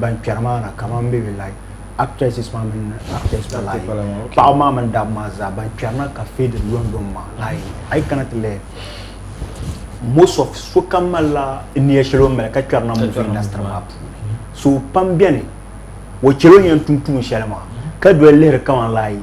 ban kpɛri maa na kamani bɛ bɛ like actresses maa mini actors maa like paɣaba maa mini dabba maa zaa ban kpɛri na ka fade london maa like ayi kana ti lɛ most of sokam malila niya shɛli o mali ka kpɛri na movie industry maa puuni so pam bɛni o chɛli o ni yɛn tum tuun shɛli maa ka doli lihiri kamani like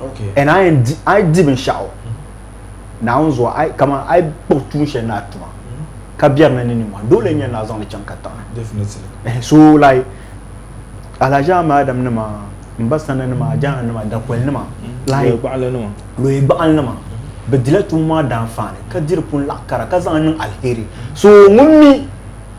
Okay. And I am I di binshaɣu naawuni zuɣu I kama I kpuɣi tuun shɛli ni a tuma ka biɛri ni ni nimmɔhi dole n-nyɛ ni a zaŋli chaŋ ka taɣi. Definitely. Eh, so like Alhaji Ahmed Adam nima Mba Sana nima Ajana nima Dakoli nima like Loye Gbaɣili nima Loye Gbaɣili nima bɛ dila tuun maa daanfaani ka di di pun laɣi kara ka zaŋ niŋ alheri so ŋun mi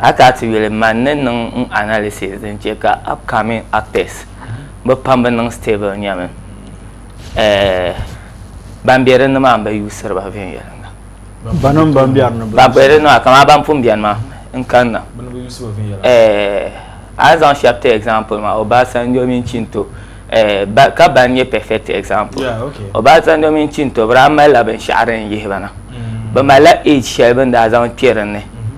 A ka ti yuli man ni niŋ n analysis din che ka upcoming actors bi pam bi niŋ stable nyɛmi eh, ban be dinni maa n ba yuusiri ba viɛnyɛlinga. Banim ban biɛri ni Ban be dinni maa kamaa ban pun biɛni maa n kanna. Bɛ ni bi yuusi ba viɛnyɛlinga. Eh, a ni zaŋ shɛba ti example maa Obasanjo mini Chinto eh, ba ka ban nyɛ perfect example. Yeah, okay. Obasanjo mini Chinto bi daa mali la binshɛɣu din yihi ba na. Bɛ mali la age shɛli bɛ ni daa zaŋ kpe dinni.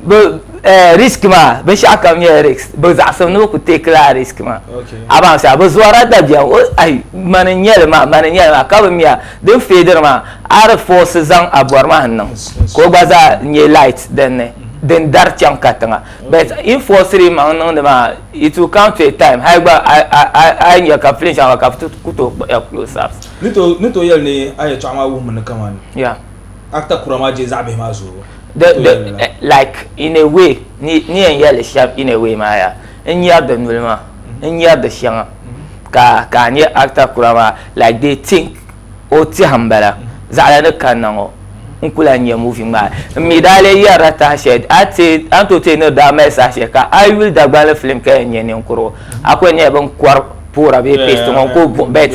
bi eh, risk maa binshaɣu kam nyɛla risk bi zaɣasim ni bi ku take la risk maa a baŋ sa bi zuɣara dabiɛm o ayi mani n nyɛli maa mani n nyɛli maa ka bi miya din feediri maa a di force zaŋ a bɔri maa n niŋ ka o gba zaa nyɛ light din ni din dari chaŋ ka tiŋa but in forceri maŋ niŋdi maa it will come to a time hali gba a- a- a- a yi nya ka filin shɛŋa ka bi ti ku tooi kpuɣi ya close ups ni to yɛli ni a yɛtɔɣa maa wuhimi ni kamani yeah Actor kura maa je zaɣi bihi maa zuɣu. The the like in a way ni ni yɛn yɛli shɛm in a way maa yaa n nyari di noli maa n nyari di shɛŋa ka ka a nya actor kura maa like they think o tiɛhi n bala zaɣala ni kanna ŋɔ n ku lahi nya movie ŋmaai n mi daa lee yɛrila taha shɛli a ti a ni tooi ti ni daa mali saha shɛli ka a yuli Dagbanli film ka yɛn nya ninkurigu a ku yɛn nyɛla bin kɔri poora bee paste ŋɔ ko buɣi bet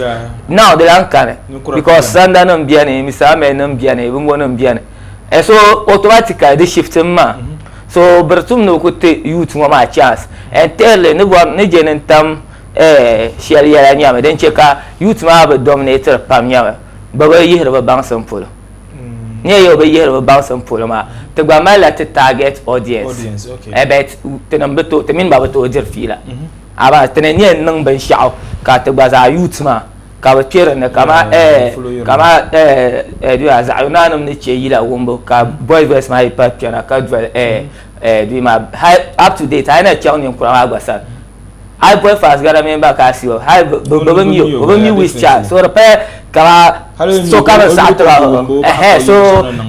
now di lan kani because sanda nim biɛni misaamel nim biɛni bingo nim biɛni eh, so automatically di shift n maa mm-hmm. so biri tum ni o ku ti youth ŋɔ maa chance and thirdly ni bɔri ni je ni tam eh, shɛli yɛla nyɛmi din chɛ ka youth maa bi dominate pam nyɛmi bi bi yihiri bi baŋsim polo mm. nyɛ yɛ bi yihiri bi baŋsim polo maa ti gba malila ti target audience, audience okay. eh, but ti mini ba bi tooi diri fiila mm -hmm. Abass ti ni nyɛ n niŋ binshɛɣu ka ti gba zaa yuut maa ka bi kpɛ dinni kamani eh kamani eh di maa zaɣ yuna nim ni chɛ yila wumbu ka boys boys maa yi pahi kpɛna ka doli eh eh di maa hali up to date a yi na chaŋ ninkura maa gba sani hali boy fans gana mini ba ka asiyo hali bi bi bi mi o bi mi wish child so di paya kamani so ka bi saɣa tiba ɛhɛn so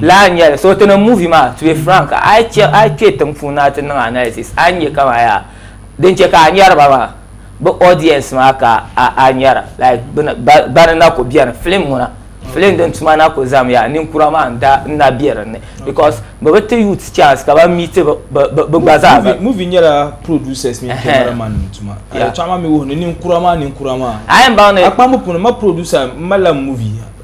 laa n nyɛli so ti ni movie maa to be frank a yi chɛ a yi kpɛ tiŋ puuni na ti niŋ analysis a ni nyɛ kamani yaa Din chɛ ka a nyari ba maa, bɛ audience maa ka a nyara. Like bɛ na, bana na ku beni. Film ŋuna, film din tuma na ku zam ya, ninkura maa n daa, n na be din ni. Because bɛ bi ti youths chance ka bɛ meet bɛ gba zaa ba. Movie nyɛla producers mini camera man nim tuma. Ka yɛltɔɣa maa mi wuhi ni ninkura maa, ninkura maa. A yi baŋ ni. A kpambu puuni, ma producer, m mali la movie.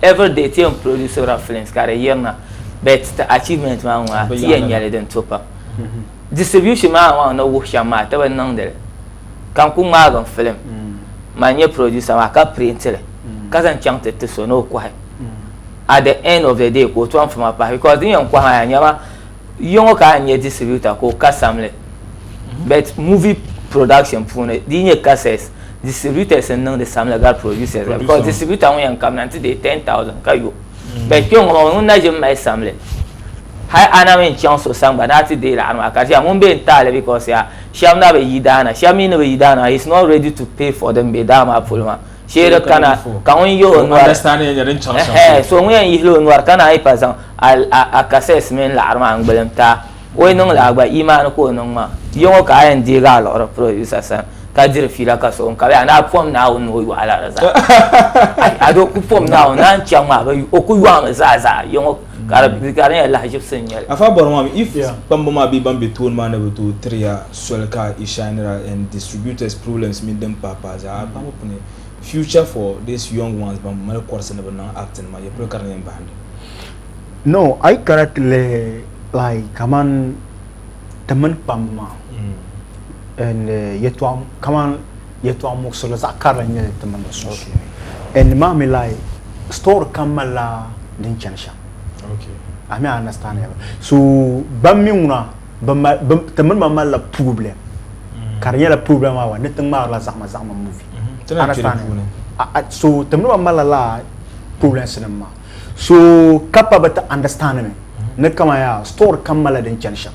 Every day ti yɛn produsirila films ka di yirina but ti achievement maa ŋɔ ti yɛn nyɛli din to pam. Distribution maa maa ni wuhi shɛm maa ti bi niŋdi li ka n ku ŋmaagi n film man nyɛ producer maa ka print li ka zaŋ chaŋ ti ti so ni o kɔhi at the end of the day ka o tɔm fuma pahi because din yɛn kɔhi maa yaa nyɛma Yiŋɔ ka n nyɛ distributor ka o kasam li but movie production puuni di yi nyɛ cassettes distributors n niŋdi samli gari producers la because distributor ŋun yɛn kabina n ti deei 10,000 ka yo but kpɛŋɔ maa o ŋun na ʒimi mali samli hali a na mi n chaŋ so sani gba ni a ti deei laɣiri maa ka di ʒiya ŋun bɛ n taali because yaa shɛba na bi yi daa na shɛba mi ni bi yi daa na he is not ready to pay for din bɛ daa maa polo maa. Sheeri kana ka ŋun yihi o nɔri. So ŋun yɛn yihila o nɔri ka naan yi pa zaŋ akasɛs mini laɣiri maa n-gbilim ti a, o yi niŋ li a gba imaani ka o niŋ ma. Yo ŋɔ ka a yɛn deegi a liɣiri purodusa sani ka diri fiila ka so ŋun ka bɛ a ni a pom Naawuni ni o yɔɣila di zaa. Ado ku pom Naawuni ni a ni chaŋ maa bɛ o ku yɔɣimi zaa zaa. ka di di ka di nyɛla lahaʒibisi n nyɛli. Afa bɔri maa mi if kpamba maa bee ban be tooni maa ni bi tooi tiri ya soli ka i shinira and distributors problems mini din pahi pahi zaa a kpamba puuni future for these young ones ban mali kɔrisi ni bi niŋ acting maa yɛpolo ka di yɛn bahindi. No a yi kana ti lihi like kamani ti mini kpamba maa and yɛtɔɣa kamani. yɛltɔɣa muɣisirili zaɣ karili n nyɛli n ti mini ba sunsuuni and nimaami la story kam malila din chani shɛm a mi a understand ya so ban mi ŋuna ti mini ba malila problem mm. ka di nyɛla problem awa ni ti ŋmaarila zaɣima zaɣima movie mm-hmm. understand so ti mini ba malila la problems nim maa so ka pa bi ti understand mi mm-hmm. ni kama ya story kam malila din chani shɛm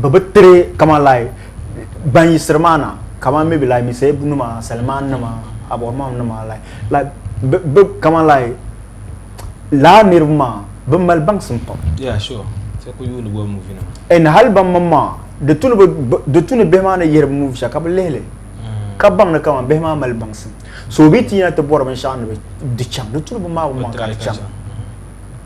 bɛ bi tiri kama lai ban yisiri maa na kama mi bi lai mi seebu nima saliman nima abɔrima nima lai lai bɛ kama lai laa niriba maa bɛ mali baŋsim pam e ni hali ban mini maa di tu ni bihi maa ni yihiri bi muvi shɛli ka bi lihili mm. ka baŋ ni kama bihi maa mali baŋsim so bi ti yina ti bɔri binshɛɣu ni bi di chaŋ di tu ni bi maa bi maŋ ka di chaŋ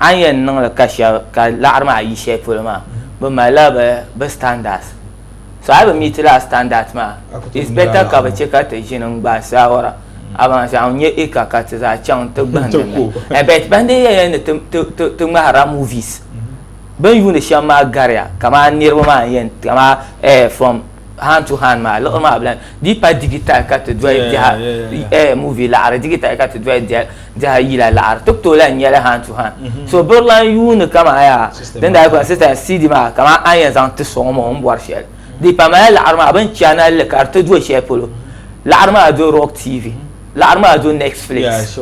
a ni yɛn niŋ li ka shɛba ka laɣiri maa yi shɛli polo maa bi mali la bi bi standards so a yi bi meet la standards maa it's better ka bi chɛ ka ti ʒini n gbaai saawara abaŋ n nyɛ acre ka ti zaa chaŋ n ti gahindi li eh, but ban dii yɛn yɛn ni ti ti ti ti ŋmahirila movies bin yuuni shɛm maa gariya kaman niriba maa n yɛn kaman eh from hand to hand maa liɣiri maa bila di pa digital ka ti doli biɛha eh movie laɣari digital ka ti doli biɛha yila laɣari ti tooi lahi nyɛli hand to hand mm-hmm. so biri lan yuuni kama yaa din daa gba sista cd maa kama an yɛn zaŋ ti sɔŋ ŋɔ n bɔri shɛli mm-hmm. di pa mali laɣari maa bin chana li ka di ti do shɛli polo laɣari maa do rock tv laɣari maa do netflix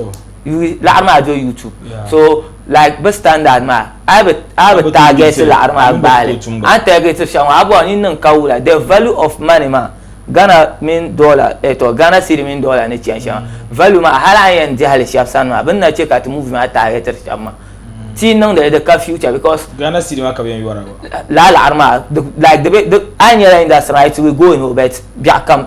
yuui laɣiri maa do YouTube yeah. so like bi standard maa a bi a bi target laɣiri maa baali an target shɛŋa a bɔn ni niŋ ka wula the value of money maa Ghana mini dollar eh to Ghana cedi mini dollar ni chɛn shɛŋa mm. value maa hali an yɛn dihili shɛba sani maa bin na chɛ ka ti movie maa target shɛba maa ti niŋdi di ka future because Ghana cedi maa ka bi yɛn yɔra la laɣiri maa like di be an yɛla industry maa it will go in o bet biɛɣu kam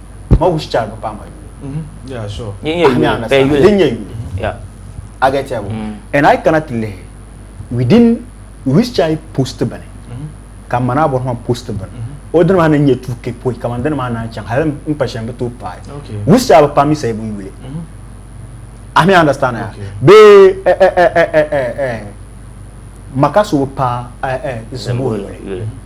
ma wish chara bi paɣa ma yuuni I get ya mm. and I cannot live within wish chara post bani mm-hmm. ka mana bɔ ma post bani mm-hmm. o dini maa ni nyɛ tu ke poi ka man dini maa naan chaŋ hali n pa shɛm bi tooi paai wish chara bi paɣa mi sayi bi yuuli I mean understand ya be eh eh eh eh eh, eh. maka so bi paɣa eh eh zimbo yuuli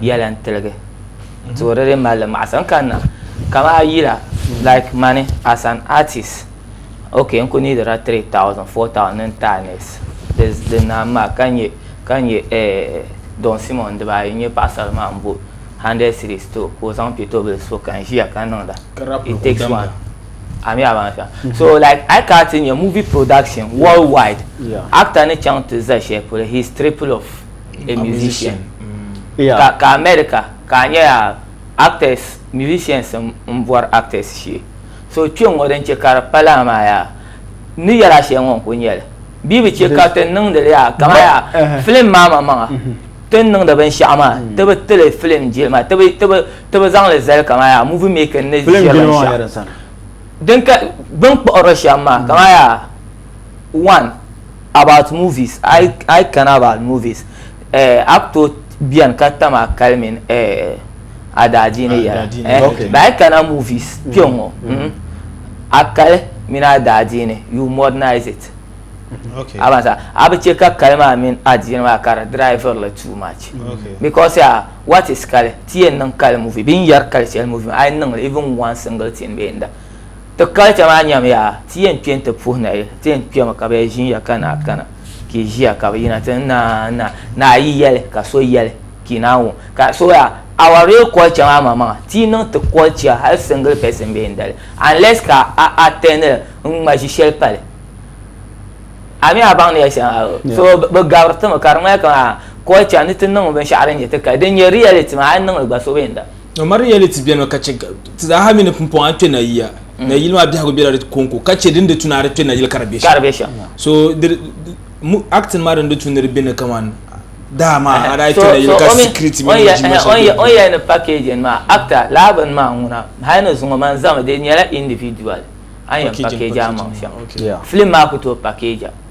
yɛla n tiligi to di di mali maɣasa n kanna kama a yila like mani as an artist ok n ku nidira 3000 4000 ni n taanɛs di naan maa ka nyɛ ka nyɛ eh, don simon dibaayi n nyɛ paɣasari maa n bo 100 series to ka o zaŋ piɛtobili so ka n ʒiya ka niŋda it takes one ami a ban sa mm-hmm. so like I can't in your movie production worldwide yeah. actor ni chang to za share for his triple of a musician yeah. ka, ka America ka a nya yaa actors musicians n bɔri actors shee so kpe ŋɔ din che ka di pa laa maa yaa ni yɛla shɛli ŋɔ n ku nyɛli bia bi che ka ti niŋdi li yaa kama yaa uh-huh. film maa ma maŋa mm-hmm. ti niŋdi binshaɣu maa mm-hmm. ti bi tili film jilima ti bi ti bi ti bi zaŋli zali kama yaa movie making ni ʒiri binshaɣu din ka bin kpuɣiri shɛm maa kama yaa one About movies ai ai kana about movies eh actor bɛni ka tam a kali min eh adaadiini yɛla eh okay. but ai kana movies mm. kpɛ ŋɔ mm. mm. a kali mini adaadiini you modernize it okay. a sa a bi chɛ ka kali maa mini adiini maa ka di driver la too much okay. because uh, what is kali ti yɛn niŋ kali movie bin yɛri kali shɛli movie ai niŋli even one single thing bɛ yɛn da Ti culture maa nyɛmi yaa ti yɛn kpɛ nti puhi nayi ti yɛn kpɛmi ka bɛ ʒiya ka naa kana ka i ʒiya ka bɛ yina ti naa naa naa yi yɛli ka so yɛli ka i naa wum ka so yaa our real culture maa ma maŋa ti yi niŋ ti culture hali single person bɛ yɛn dali unless ka a attend li n ŋma ʒi shɛli pali a mi a baŋ ni yɛli shɛŋa so bɛ gabiri ti mi ka di ŋmani ka culture ni ti niŋ binshɛɣu din nyɛ ti kali din nyɛ reality maa a yi niŋ li gba so bɛ yɛn dali. No mari yɛli ti bɛni ka chɛ ti zaaha mi ni pumpɔŋɔ kpe nayia. Mm. Nayili maa biɛhigu bela di kɔŋko ka chɛ din di tu ni a di kpe nayili ka di bɛ shɛm. Ka di bɛ shɛm. So acting maa din di tu ni di bɛ ni kaman daa maa a daa kpe nayili ka security mi ni o jimma shɛli bɛ ni. O yɛli ni packaging maa actor laa bini maa ŋuna hali ni zuŋɔ man zami di nyɛla individual a ni yɛn package a maŋ shɛm film maa ku tooi package a.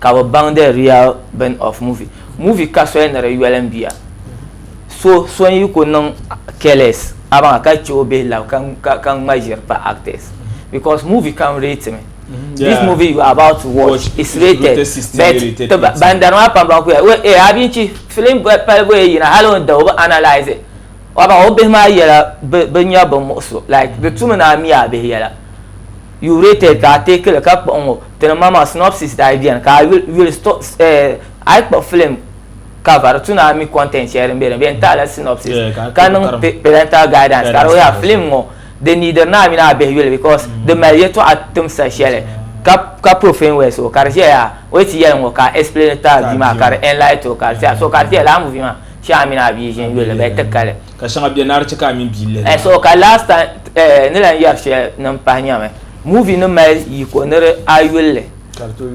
ka bi baŋ the real bin of movie movie ka soli ni di yoli n biya so so n yi ku niŋ careless abaŋa ka chɛ o bihi lab ka ka ka ŋma ʒiri pa actors because movie kam rate mi this Yeah. movie you are about to watch Watch, is it's rated rated 16, but rated ti ba- 18. ban dari maa pam ban kuya we e a bi chi film bɔ- pali bɔye yina hali o ni da o bi analyze it abaŋa o bihi maa yɛla bi bi nya bin muɣu so like di tumi ni a mi a bihi yɛla You rated ka a take li ka kpuɣi ŋɔ ti ni ma maa synopsis daa beni ka a yuli yuli sto eh a yi kpuɣi film cover di tu ni a mi content shɛli din be din beni tahi la synopsis Yeah, ka a ka niŋ kpuɣi pa- parental guidance ka di Guidance, yaa film ŋɔ di neediri ni a mini a bihi yuli because di mali yɛltɔɣa timsa shɛli ka ka profane words so ka di ʒiya yaa o yi ti yɛli ŋɔ ka a explain ti a bia maa ka di enlighten o ka di tia so ka di tia lala movie maa shee a mini a bia ʒini yuli di bɛ ti kali. Ka shɛŋa bɛ naari ti ka a mini bia lihiri. Eh, so ka last time eh, ni lan yɛri shɛli ni n pahi nyami. Movie ni mali yiko ni di a yulli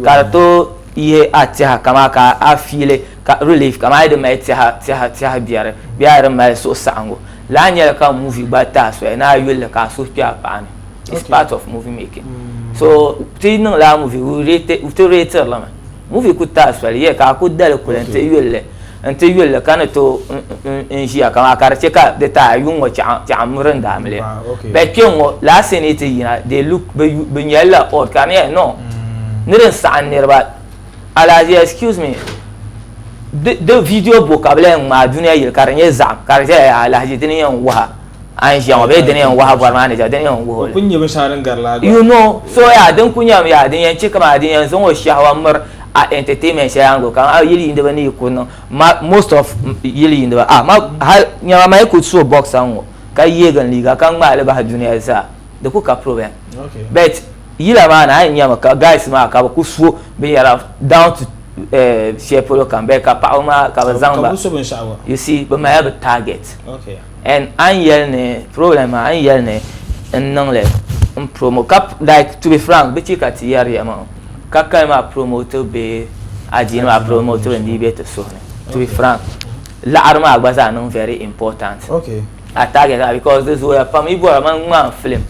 ka di to yihi a tɛha kamaa ka a fiili ka relief kamaa yi di mali tɛha tɛha tɛha biɛri bee a di mali suhu saɣingu. Lahi nyɛla ka movie gba ti a soli ni a yulli ka a suhu kpɛ a paɣa ni. It's part of movie making. So ti niŋla a movie, ti reetirili mi. Movie ku taɣi soli yɛ ka a ku dali kuli n-ti yuli li n-ti yuli li ka ni tooi n ʒiya kamaa ka di chɛ ka di taai a yuŋ ŋɔ chɛɣu m-miri n daa mili bɛ kpe ŋɔ laa sini yi ti yina they look bɛ nyɛli la odd ka di nyɛla no ni din saɣim niriba alahaji excuse me di video bɔ ka bɛ lahi ŋmaai duniya yili ka di nyɛ zaɣim ka di zaya yaa alahaji dini n-yɛn waha. a ni ʒiya ŋɔ bee di ni yɛn wahu bɔri maa ni ʒiya di ni yɛn wuhi o li you know so yaa din kuli nyɛmi yaa din yɛn chɛ kaman din yɛn zaŋ o shɛhwa miri a entertainment shɛli yaa n-guli kaman yili yiiniba ni yi kuli niŋ ma most of yili yiiniba ah ma hali nyama ma yi kuli so boxer ŋɔ ka yeegi n liiga ka ŋmaai li bahi duniya zaa di kuli ka problem but yila maa ni a yɛn nyami ka guys maa ka bɛ kuli so binyɛra down to shɛli polo kam bee ka paɣaba maa ka bɛ zaŋ ba you see bɛ malila bɛ target. and a ni yɛli ni problem maa a ni yɛli ni n niŋli n promo ka like to be frank bi chɛ ka ti yɛriya maa ka kali maa promote bɛ adiini maa promote bɛ ni bɛ ti suhu ni to be frank laɣari maa gba zaa niŋ very important a target maa because di zooya pam yi bɔra man ŋmaan film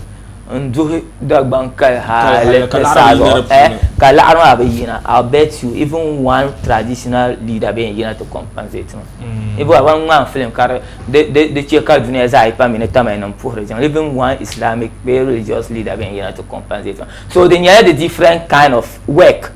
n duhi Dagbaŋ kali hali ti saha zuɣu eh, ka laɣiri maa bi yina I'll bet you even one traditional leader bɛ yɛn yina ti compensate ma mm. ibo ban ŋmaan film ka di chɛ ka duniya zaa yi pa mi ni tamali nim puhiri jiŋ even one islamic bee religious leader bɛ yɛn yina ti compensate ma so di nyɛla the different kind of work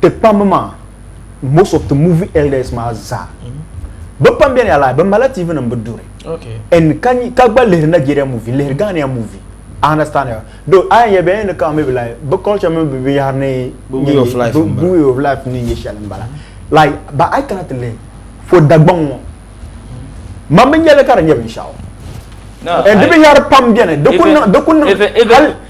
ti pambi maa most of the movie elders maa zaa bi pam bɛni ala bi mala tv nim bi duri and ka gba lihiri Nigeria movie lihiri Ghana movie I understand ya do a yɛn yɛ bɛn ni kan mi bi la bi culture mi bi bi yahari ni way of life way of life ni yɛ shɛli n bala like but I cannot live for dagbaŋ ŋɔ man bi nyɛli ka di nyɛ binshaɣu and di binyɛri pam bɛni di kun di kun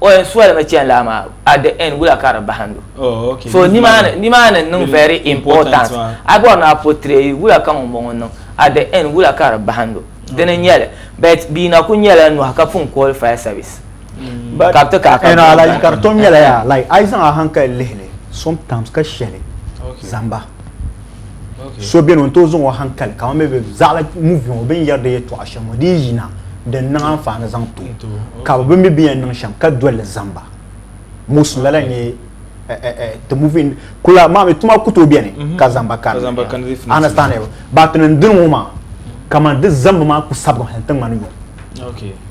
o yɛn solimi chani laa maa at the end wula ka di bahindi o Oh, okay. so Leave nimaani money. nimaani n niŋ Very very important important maa. a bɔri ni a portray wula ka ŋunbɔŋɔ n niŋ at the end wula ka di bahindi o dini n nyɛli but bia na kuli nyɛla nɔhi ka pun kɔhili fire service But- ka bi ti kaai ka And I like ka di tom nyɛla yaa like a yi zaŋ a hankali lihili sometimes ka shɛli Okay. zamba. so beni n-tooi zaŋ o hankali ka mami be zaɣila muvi ŋɔ bin yɛri di yɛtɔɣa shɛm ŋɔ di yina din niŋ anfaani zaŋ to ka bi mi bi yɛn niŋ shɛm ka dolli zamba mosin lala nyɛ ti muvi kula mami tuma ku tooi beni mhm. ka zamba kani understand ba ti niŋ dini ŋɔ maa kamani di zambu maa ku sabigi hali ti ŋmani yɔŋ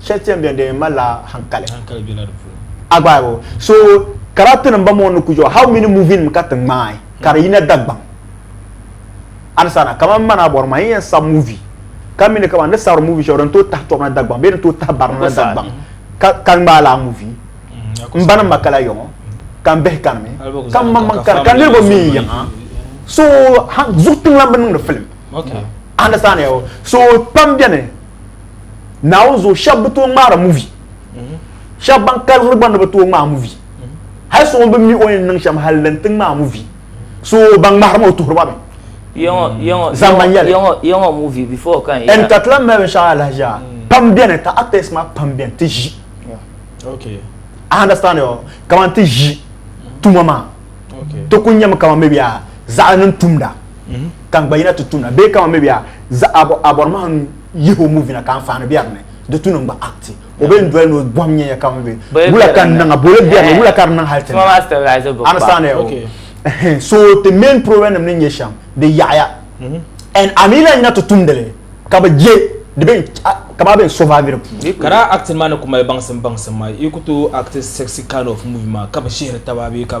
shɛli ti yɛn bɛni di malila hankali a gbaai bo so character nim ba mo ni kujɔ how many movie nim ka ti ŋmaai ka di yina Dagbaŋ alisana kamani mana bɔri maa yɛn sab movie ka mi ni kamani ni sabiri movie shɛli din tooi tahi tɔbu na Dagbaŋ bee din tooi tahi barina na Dagbaŋ ka ŋmaai laa movie n ba ni ma kala yɔŋɔ ka n bihi kanimi ka n maŋmaŋ kani ka niriba mi n yiŋa so zuɣu tiŋlan bi niŋdi film alisana so pam bɛni naawuni zuɣu shɛba bi tooi ŋmaari muvi shɛba ban kaliri gba ni bi tooi ŋmaai muvi hali so ŋun bi mi o yɛn niŋ shɛm hali din ti ŋmaai muvi so ban ŋmahiri ma o tuhiri ma mi yɛŋɔ muvi before kan ɛn ka tila mali binshaɣu alahaji a pam bɛni ka actors maa pam bɛni ti ʒi a understand yo kamani ti ʒi tuma maa ti ku nyɛmi kamani mi bɛ zaɣa niŋ tumda kan gba yina ti tumda bee kamani mi bɛ a bɔri maa yihi o movie na ka anfaani bɛ ni di tu niŋ gba act o bɛ n doli ni o bɔhim nyɛya ka ŋun bɛ wula ka n niŋa boli bɛ ni wula ka di niŋ hali tin understand ya so the main problem nim ni nyɛ shɛm di yaɣaya and a mi lahi yina ti tumdili ka bi je di bɛ ka maa bɛ n survive di puuni ka daa acting maa ni ku mali baŋsim baŋsim maa yi ku tooi act sexy kind of movie maa ka bi shihiri taba bee ka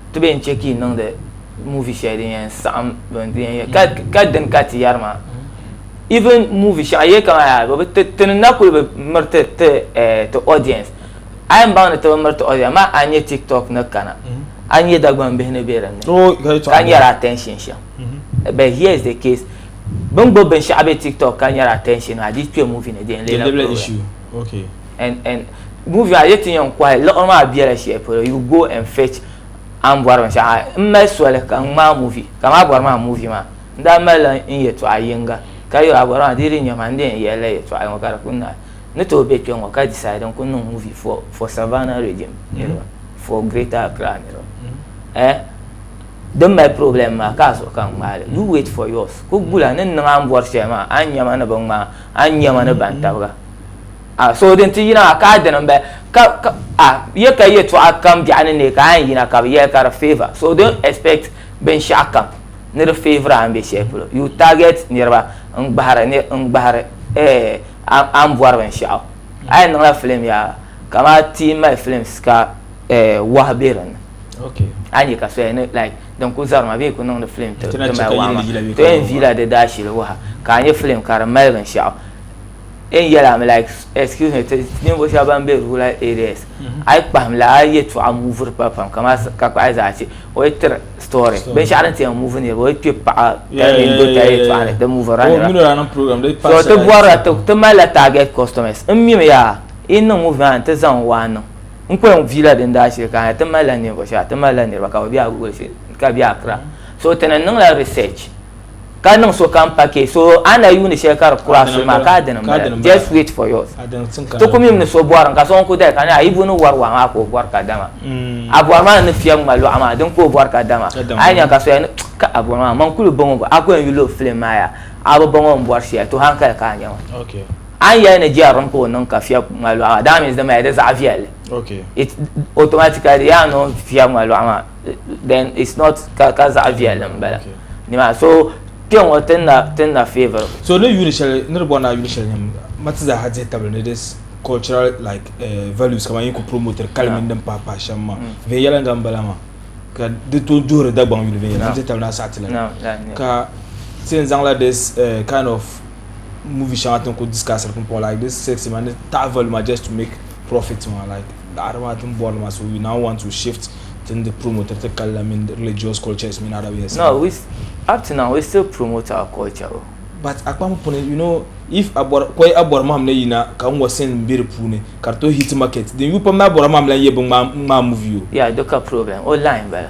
Ti bɛ yɛn chɛ ka yi niŋdi movie shɛli din yɛn saɣim din yɛn yɛ ka ka dini ka ti yari maa even movie shɛŋa yɛ kama yaa bi bi ti ti ni na kuli bi miri ti ti eh, ti audience a yɛn baŋ ni ti bi miri ti audience maa a nyɛ tiktok ni kana a nyɛ Dagban bihi ni bɛ dinni Oh, ka yi tɔɣi ka nyɛri attention shɛm but here is the case bin gbubi binshɛɣu bɛ tiktok ka nyɛri attention maa di kpɛ movie ni di yɛn Di leela lebla problem. issue. Okay. and and movie maa yeti yan kɔhi liɣiri maa bela shɛli polo you go and fetch a ni bɔri binshɛɣu n mali soli ka n ŋmaai movie ka maa bɔri maa movie maa n daa malila n yɛtɔɣa yiŋga ka yo a bɔri maa dee di nya maa n di yɛn yɛli la yɛtɔɣa yiŋga ka di kuli naai ni tooi be kpe ŋɔ ka decide n kuli niŋ movie for for Savannah region niriba for greater Accra niriba ɛɛh din mali problem maa ka a zuɣu ka n ŋmaai li you wait for yours kuli gula ni n niŋ a ni bɔri shɛli maa a ni nya ma ni bi ŋmaai a ni nya ma ni ban tabiga. A so din ti yina ka a dini n bɛ ka a yɛ ka yɛtɔɣa kam biɛɣu ni neei ka a yɛn yina ka bi yɛli ka di favor so don't expect binshaɣu kam ni di favor a ni bɛ shɛli polo you target niriba n gbahiri n gbahiri eh a ni bɔri binshaɣu a yɛn niŋla film yaa kama ti mali films ka eh wahi bɛ dinni okay a nyɛ ka soya ni like din ku zari ma bee ku niŋdi film ti mali wahi ma to yɛn viila di daashili waha ka a nyɛ film ka di mali binshaɣu en yɛla mi like excuse me ninvuɣu shɛba ban bɛ rural areas mm-hmm. a yi kpahim la a yɛtɔɣa muviri pa pam kama ka kpahi zaa che o yi tiri story binshɛɣu din tiɛn muvi niriba o yi kpe paɣa tɛni do ta yɛtɔɣa ni di muvira niriba so ti bɔrila ti mali la target customers n mimi yaa yi niŋ muvi maa ni ti zaŋ waa niŋ n ko yɛn viila din daa shili ka ti mali la ninvuɣu shɛba ti mali la niriba ka bi bɛ a goli shili ka bɛ a kira so ti ni niŋ la research ka niŋ sokam package so a na yuuni shɛli ka di kura so maa ka a dini bala just wait for yours ti ku mim ni so bɔri ka so ŋun ku dali ka a yi bu ni wari waa maa ka o bɔri ka dama mm. a bɔri maa ni fiya ŋma lɔɣu maa din ka o bɔri ka dama a yi nya ka so ka a bɔri maa man kuli bɔŋɔ a ku yɛn yuli o filim maa ya a bi bɔŋɔ n bɔri shɛli to hankali ka a nya ma a ni yɛli ni jɛri ka o niŋ ka fiya ŋma lɔɣu maa daa mi di mali di zaɣ viɛlli automatically yaa niŋ fiya ŋma lɔɣu maa then it's not ka ka zaɣa viɛlli n bala nima so kpe ŋɔ ti na ti na favour. so ni yuli shɛli ni di bɔri na yuli shɛli nim ma ti zaa ha dihi tabili ni this cultural like uh, values kama yin ku promoter kali mini din pahi pahi shɛm ma viɛnyɛlinga n bala maa ka di to duhiri dagbaŋ yuli viɛnyɛlinga dihi tabili na saɣa ti la ka ti yɛn zaŋla this uh, kind of movie shɛŋa tin ku discussiri pumpɔŋ like this sex ma ni taɣi value ma just to make profit ma like Daɣiri maa tini bɔri li maa so we now want to shift tini di promoter ti kali la mini religious cultures mini other ways. No we up to now we still promote our culture o. But a kpam puuni you know if a bɔri kɔyi a bɔri mahim ni yina ka ŋɔ sin m be di puuni ka di tooi hit market din yuui pam ni a bɔri a mahim la n yɛ bi ŋmaai movie o. Yeah di ka problem o line bala.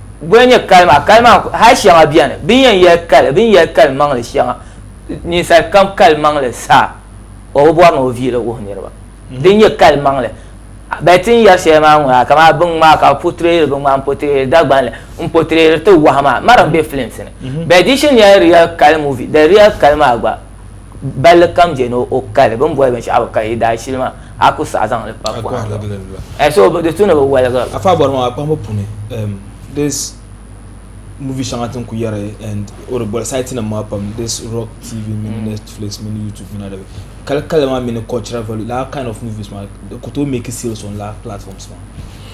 Boli n-nyɛ kali maa? Kali maa hal shɛŋa beni bɛ ni yɛn yɛli kali, bɛ ni yɛli kalimaŋli shɛŋa. Ninsal kam kalimaŋli saha o bi bɔri ni o viili wuhi niriba. Din nyɛ kalimaŋli bɛ ti ni yɛri shɛli maa ŋ-ŋɔ yaa kamani biŋ maa ka bɛ potireyiri biŋ maa m-potireyiri Dagbanli, m-potireyiri ti wahu maa, Marim be filimsi ni. Bɛ di shini yɛli real kali movie, the real kali maa gba. balli kam je ni o kali bini boli binshɛɣu bi kali yi daa shili maa a ku saɣi zaŋli pa pɔhim zuɣu so di tu ni bi waligi li. Afa bɔri maa kpahimbu puuni this movie shɛŋa tin ku yɛri and o di boli site nim maa pam this rock tv mini mm. netflix mini youtube mini adabi kali kali maa mini cultural value la kind of movies maa di ku tooi make sales on la platforms maa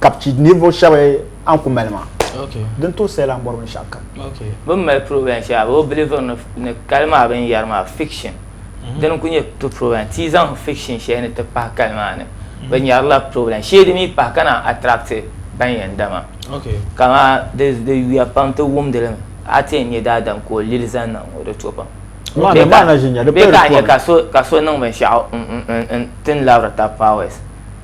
ka bi ninvuɣu shɛba an ku mali maa din tooi sayi lan bɔri binshɛɣu kam bi ni mali problem shɛŋa bi biliviri ni kali maa binyɛri maa fiction mm-hmm. dini ku nyɛ to problem ti zaŋ fiction shɛli ni ti pahi kali maa ni mm-hmm. bi nyɛrila problem sheedi mi pahi ka naan attract ban yɛn dama kama di yuya pam ti wumdi li mi a ti yɛn nyɛ daadam ka o lili zaŋ niŋ ŋɔ di to pam bee ka a nyɛ ka so niŋ binshɛɣu n tin labiri ta powers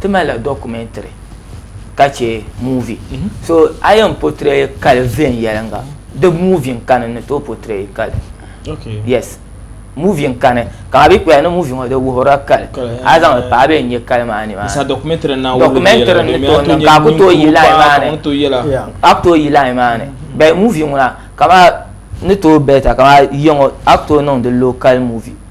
Ti malila documentary ka che movie. So a yɛn portray kali viɛnyɛlinga di movie n kani ni tooi portray kali. Yes. Movie n kani ka a bi kpɛya ni movie ŋɔ di wuhirila kali a zaŋ li pa a bi yɛn nyɛ kali maa nimaani. Sa documentary n na wulim yɛla documentary ni tooi niŋ ka a ku tooi yi line maa ni a ku tooi yi line maa ni but movie ŋuna ka maa ni tooi better ka maa yiya ŋɔ a ku tooi niŋdi local movie.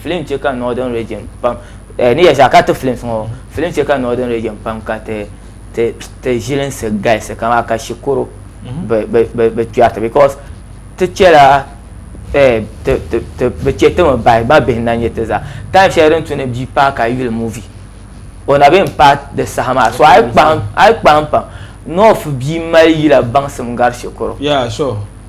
Film chɛ ka Northern Region pam ni yɛli zaa ka ti films ŋɔ film chɛ ka Northern Region pam ka ti ti ti ʒilinsi galisi kamaa ka shikuru bi kpɛriti because ti chɛla ti ti bi chɛ timi bahi mabihi na nyɛ ti zaa time shɛli din tu ni bia paai ka yuli movie o na bɛ yɛn paai di saha maa so a yi kpahim a yi kpahim pam North bia mali yila baŋsim gari shikuru.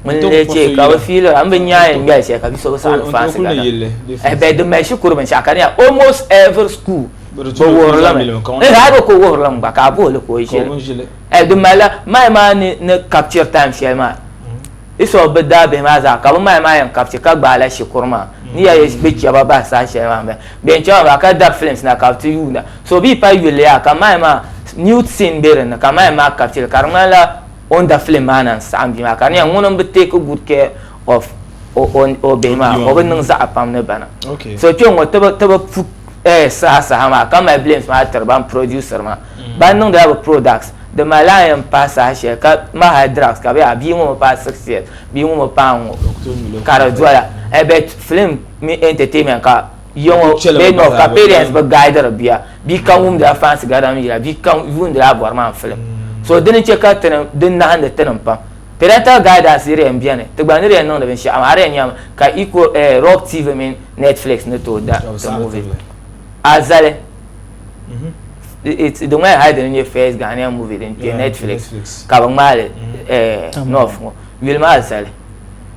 N lee chɛ ka bɛ fiili ba, m bi nya yɛn ŋmɛli shɛli ka bi so bi saɣindi fansi gana. Ɛhɛ bɛ din mali shikuru binshɛɣu ka di nya almost every school bɛ wuhiri li mi. Ɛhɛ hali bɛ ku wuhiri li mi gba ka a buhi li ka o ʒi li. Ɛhɛ din mali la mahi maa ni ni capture time shɛli maa instead of bɛ daabihi maa zaa ka bɛ mahi maa yɛn capture ka gbaai la shikuru maa ni ya yi bɛ chɛ ba bahi saha shɛli maa m-bala. Bɛ yɛn chɛ ba maa ka dabi films na ka bɛ ti yuunda. So bɛ yi paai yuli yaha ka mahi maa nude scene be din ni ka mahi maa capture li ka di ŋmanila O ni da fili maa na n-saɣim bia maa ka di nyɛla ŋuni m-bi take good care of o bihi maa o bi niŋ zaɣ pam ni ba na. So kpɛŋŋo ti bi pu eh, saha saha maa ka mali blames maa tiri ban producer maa. Mm. Ban niŋdila bi products di malila a ni yɛn paai saha shɛli ka ŋmahi hali drugs ka bɛ yɛli a bia ŋo mi paai six years bia ŋo mi paai n ŋo ka di doya eh, but film mini entertainment ka yiya ŋo bɛ ni ka parents bi guidiri bia Bia kam wumdila fansi garidanim yila, bia kam yuundila a bɔri maa n-filim. So dini n-chɛ ka tinim din nahindi tinim pam. Parental guidance di di yɛn beni, ti gba ni di yɛn niŋdi binshɛɣu maa, a di yɛn nyami ka Eco, eh, Rock TV mini Netflix ni tooi da ti movie maa. A zali, di ŋmanila hali dini n-nyɛ first Ghanaian movie din kpe Netflix ka bɛ ŋmaai li, eh, North ŋɔ. Yuli maa zali.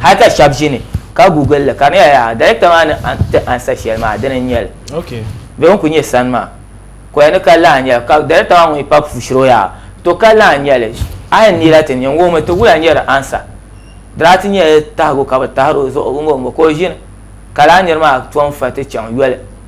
hali ka shɛba ʒini ka guguli li ka di nyɛla yaha darekta maa ni ti ansa shɛli maa dini n nyɛli bɛ ni kuli nyɛ sani maa ka di ni ka laa nyɛla ka darekta maa ŋun yi pa pushiri o yaha to ka laa nyɛli a yi ni yila ti niŋ ŋɔ mi ti wula nyɛ di ansa diraati nyɛla tahigu ka bɛ tahiri o zuɣu ŋɔ mi ka o ʒini ka lala niri maa tom fa ti chaŋ yoli.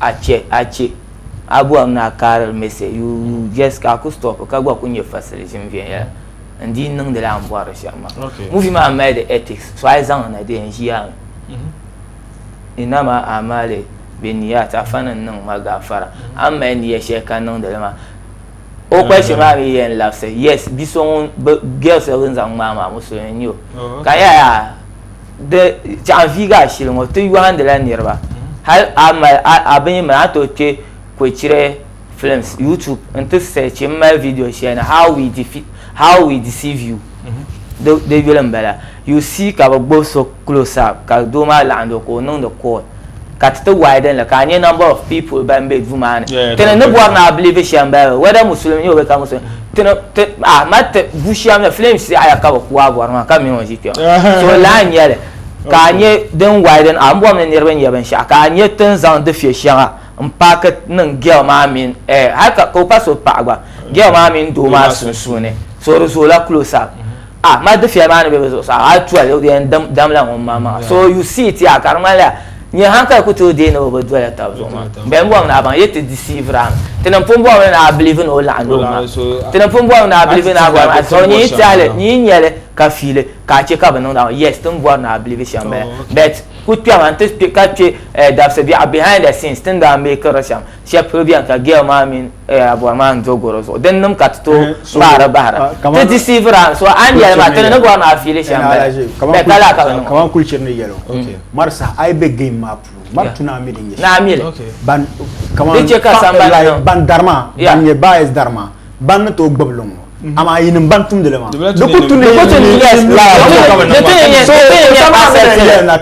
a chɛ a chɛ a bɔhim ni a kaarili mɛsɛ you you just ka a ku stop ka gba ku nyɛ fasili ʒim viɛnyɛla n dii niŋdila a ni bɔhiri shɛm maa movie maa mali di ethics so a yi zaŋ na di yɛn ʒiya mi innama a'malu binniyat afa ni n niŋ ma gafara a ni mali niya shɛli ka niŋdi li maa o question maa mi yɛn labisi yes bi so ŋun girl so din zaŋ ŋmaai maa musulmi n nyɛ o ka yaa Di chɛɣu viigi ashili ŋɔ ti yɔhindila niriba hali a mali a bin yi mali a tooi kpe Kwechire Films YouTube n-ti search m mali video shɛli ni How We Defeat How We Deceive You di yuli m-bala. You see ka bɛ gbubi so close up ka doo maa laɣindi o ka o niŋdi call. ka ti ti widen li ka a nya number of people ban be duu maa ni Yeah, tini ni bɔri ni a believe shɛm Bible whether Muslim n-nyɛ o bee ka Muslim tini ti a mali ti bu shɛm ni flames yaɣiya ka bi ku a bɔri maa ka mini o ʒi kpɛm so lala n-nyɛ li ka a nya din widen a ni bɔri ni niriba n-nyɛ binshɛɣu ka a nya ti ni zaŋ dufɛ shɛŋa m-paaki niŋ girl maa mini eh hali ka ka o pa so paɣa gba girl maa mini doo maa sunsuuni so di zoola close up. Ah mali dufia maa ni be bi zuɣusaa hali tuya di yɛn damla ŋun maŋ maŋa so you see it yaa ka di ŋmanila nyɛ hankali ku tooi deei ni o bi doya tab zuɣu maa n bɛn bɔri ni a baŋ yet ti deceive a mi ti ni n pun bɔri mi ni a believe ni o laɣim di o maa ti ni n pun bɔri mi ni a believe ni a bɔri maa so nyin tɛhili nyin nyɛli ka fiili ka a che ka bi niŋdi a maa yes ti ni bɔri ni a believe shɛm bala but ku kpɛma n ti kpe ka kpe dabisi biɛɣu behind the scenes ti ni daa make ri shɛm shɛb polo bɛni ka girl maa mini eh, abɔr maa n do goro zuɣu din nim ka ti tooi kpaari eh, bahira ah, ti deceive ra so a ni yɛli maa ti ni ni bɔri maa fiili shɛm bɛ ka laa ka bi niŋ kaman kulichiri ni yɛli mm. mari saha a yi bɛ game maa puuni mari tu naa mili nyɛ naa mili ban kaman ban dari maa ban nyɛ bias dari maa ban ni tooi gbibili ŋɔ amaa yinim ban tumdili maa di ku tu ni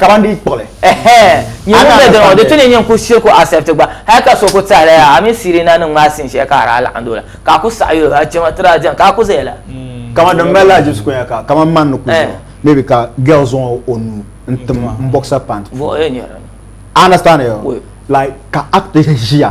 ka ban di kpuɣili di tu ni nyɛ ku shiri ku accept gba hali ka so ku tɛhili ya a mini Sirina nim ŋmaa sin shɛli ka a daa laɣim doli ka a ku saɣi yuli a chɛma ti daa diɛm ka a ku zaya la kaman din mali la Jesu kunya ka kaman man ni ku zuɣu maybe ka girl zaŋ o nuu n tim n boxer pant puuni a understand like ka act ʒiya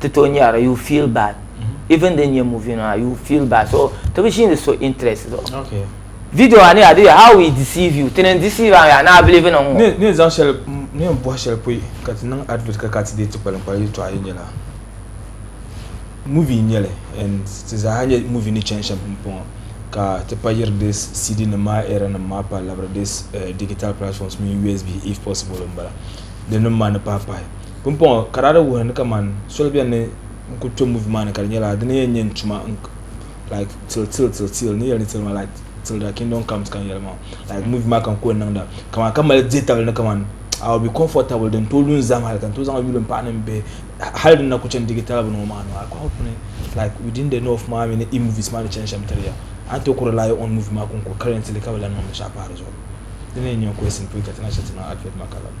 ti to nyara you feel bad even din nyɛ movie nima you feel bad so ti bi ʒiini so interest zuɣu okay video maa ni yaa di how we deceive you tini n deceive a yaa ni a believe niŋ ŋɔ ni ni zaŋ shɛli ni n bɔhi shɛli pɔi ka ti niŋ advert ka ka ti deei ti kpalinkpali yɛltɔɣa yi nyɛla movie n nyɛli and ti zaaha nyɛ movie ni chani shɛm pumpɔŋɔ ka ti pa yiri di cd nim maa era nim maa pa labiri di eh, digital platforms mini usb if possible n bala di nim maa ni pahi pahi Pumpɔŋɔ ka daa di wuhi ni kaman soli beni ni n ku kpe movie maa ni ka di nyɛla di ni yɛn nyɛ n tuma like till till till till ni yɛli ni till maa like till thy kingdom comes ka n yɛli maa like movie maa ka n ku yɛn niŋda kaman ka mali dihitabili ni kaman I will be comfortable din tooi lu n zahim hali ka n tooi zaŋ yuli m paɣa ni m bihi hali din na ku chani digi talabu ni ŋɔ maa maa ka hope ni like within the north maa mini E movies maa ni chani shɛm tiri ya a ni tooi ku rely on movie maa ka n ku currently ka bi lan niŋ binshɛɣu pahi di zuɣu di ni yɛn nyɛ n ku simple ka ti na chɛ ti niŋ advert maa ka lana.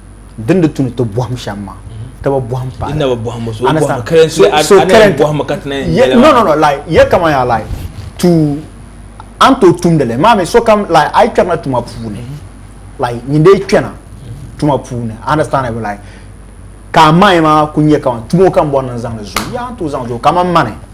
din di tu ni ti bɔhim shɛm maa ti bi bɔhim pa so current no no no like yɛ kama yaa like to an to tumdili maa mi so kam like ayi kpɛrina tuma puuni like nyini dee kpɛna tuma puuni understand it like ka a mayi maa ku nyɛ kama tumo kam bɔri ni n zaŋ di zuyu yaa n to zaŋ zuyu kamani mani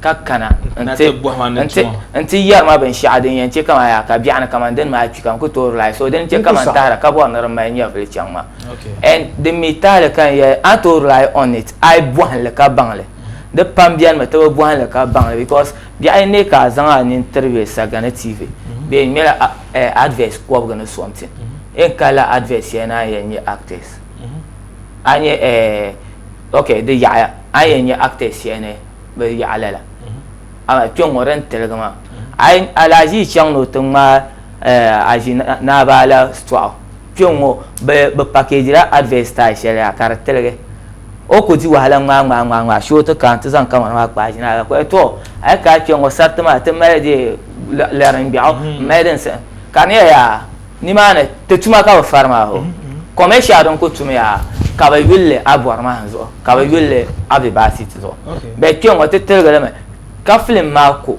ka kana n-ti yɛri ma binshɛɣu din yɛn chɛ kaman yaa ka biɛɣuni kaman dini maa kpi ka n ku toori lahi so dini chɛ kaman tahira ka bɔri ni di mali nyɛvili chaŋ ma and din mi tahili ka n yɛli a ni tooi rely on it a yi bɔhim li ka baŋ li di pam beni mi ti bi bɔhim li ka baŋ li because biɛɣu n-neei ka a zaŋ a nini tiri bɛ saga ni TV bee n ŋmɛla advert kɔbiga ni something n kalila advert shɛli ni a ni yɛn nyɛ actors a ni nyɛ ok di yaɣiya a ni yɛn nyɛ actors shɛli ni bi yaɣa lala amaa kpɛ ŋɔ din tiligi maa alaazii chaŋ ni o ti ŋmaai eh, azi naabaala sitɔɣu kpɛ ŋɔ bi pakejila advert style shɛli yaa ka di tiligi o ku di wahala ŋmaa ŋmaa ŋmaa ŋmaa shee o ti kana ti zaŋ kamani maa kpaai ʒina ka kɔya tɔ a yi ka kpɛ ŋɔ sariti maa ti mali di lari n gbɛɣu mm-hmm. mali din ka di nyɛla yaa Nimaani ti tuma ka bi fari maa hoo. Kɔme shɛli din ku tumiya ka bi yuli li a bɔri mahim zuɣu ka bi yuli li a vibasit zuɣu. Bɛ kpe ŋɔ ti tiligi li mi ka film maa ku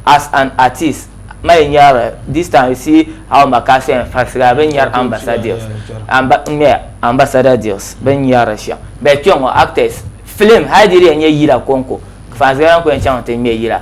as an artist ma yi nyari this time you see how ma ka so yɛn farisigira bɛ ni nyari ambassador deals n ŋmɛ ambassador deals bɛ ni nyari li shɛm bɛ kpe ŋɔ actors film hali di yi di yɛn nyɛ yila kɔŋko fansigira n ku yɛn chaŋ ti ŋmɛ yila.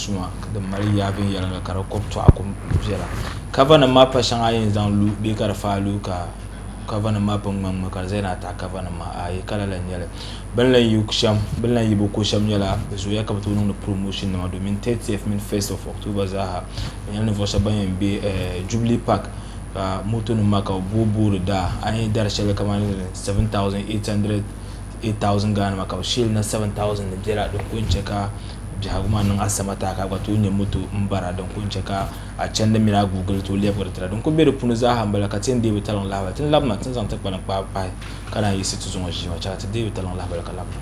suma din mali yaa viɛnyɛla la ka di kɔbi tɔɣa kum viɛla kava nim maa pa shɛŋa a yɛn zaŋ lu bee ka di faai lu ka kava nim maa pun ŋmi ŋmi ka di zaya ni a taɣi kava nim maa ayi kala la n nyɛli bin lan yi shɛm bin lan yi bi ko shɛm nyɛla bi zooya ka bi tooi niŋdi promotion nima domin 30th mini 1st of October zaaha di nyɛla ninvuɣu shɛba ban yɛn bɛ Jubilee Park ka moto nim maa ka bi booi booi di daa a ni yɛn dari shɛli kamani 7800 8000 Ghana maa ka bɛ sheeri na 7000 ni biɛla din kuli che ka biɛhigu maa niŋ asama taai ka a gba tooi nya moto m bara din kuli che ka a chandi mini a guugili tooi lebigiri tira din kuli be di puuni zaaha m bala ka ti ni deei bi taliŋ lahibali ti ni labina ti ni zaŋ ti kpalim kpaai pahi ka naan yiɣisi ti zuŋɔ ʒiya maa che ka ti deei bi taliŋ lahibali ka labina.